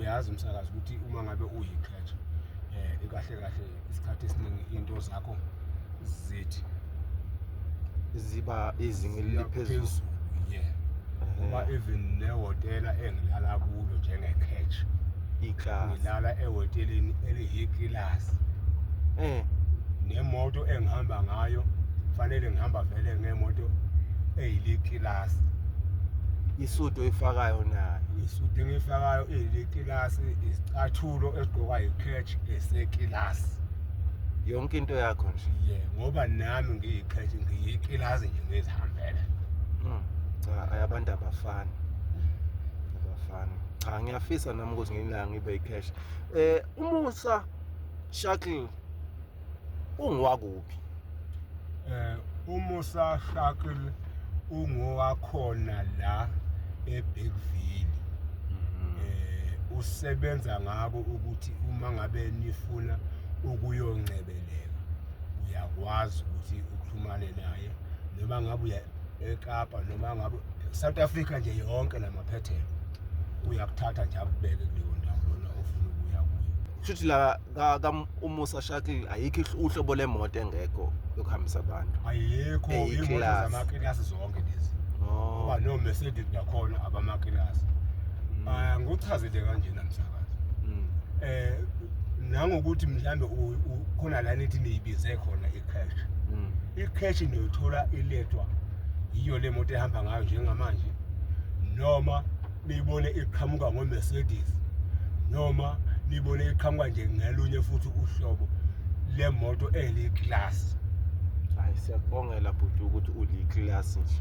uyazi msakazi ukuthi uma ngabe uyi-crash um kahle kahle isikhathi esiningi iy'nto zakho zithi ziba izinga eliphezulu ye ngoba even nehhotela engilala kulo njenge-catch ngilala ehoteleni eliyikilasi um eh. nemoto engihamba ngayo kufanele ngihamba vele ngemoto eyilikilasi isudu oyifakayo nayo isudu engiyifakayo ilikilasi isicathulo esigqokwa yichurch esekilasi yonke into yakho nje ye ngoba nami ngiyichurch ngiyikilasi nje ngizihambele Mm. cha ay, abantu abafani abafani cha ngiyafisa nami ukuthi ngelinga ngibe yicash um umusa shakl ungowakuphi? Eh uMusa Shakil ungowakhona la eBigville. Mhm. Eh usebenza ngako ukuthi uma ngabe nifuna ukuyongcebeleka uyakwazi ukuthi uxhumane naye noma ngabe uya eKapa noma ngabe South Africa nje yonke namaphethelo uyakuthatha nje akubeke kuleyo ndawo lona ofuna ukuya kuyo. Shuthi la ka ka umusa shuttle ayikho ihlo- uhlobo lemoto engekho yokuhambisa abantu ayikho Eyi, imoto class. zamakilasi zonke lezi oh ngoba no mercedes nakhona abamakilasi mm, Ah, nguchazile kanjena msakazi mm, eh nangokuthi mhlambe u- u- khona la nithi niyibize khona i-cash mm, i-cash niyoyithola ilethwa yiyo le moto ehamba ngayo njengamanje noma niyibone iqhamuka ngoMercedes noma niyibone iqhamuka nje ngelunye futhi uhlobo lemoto eli-class hayi siyakubongela bhuti ukuthi uli-class nje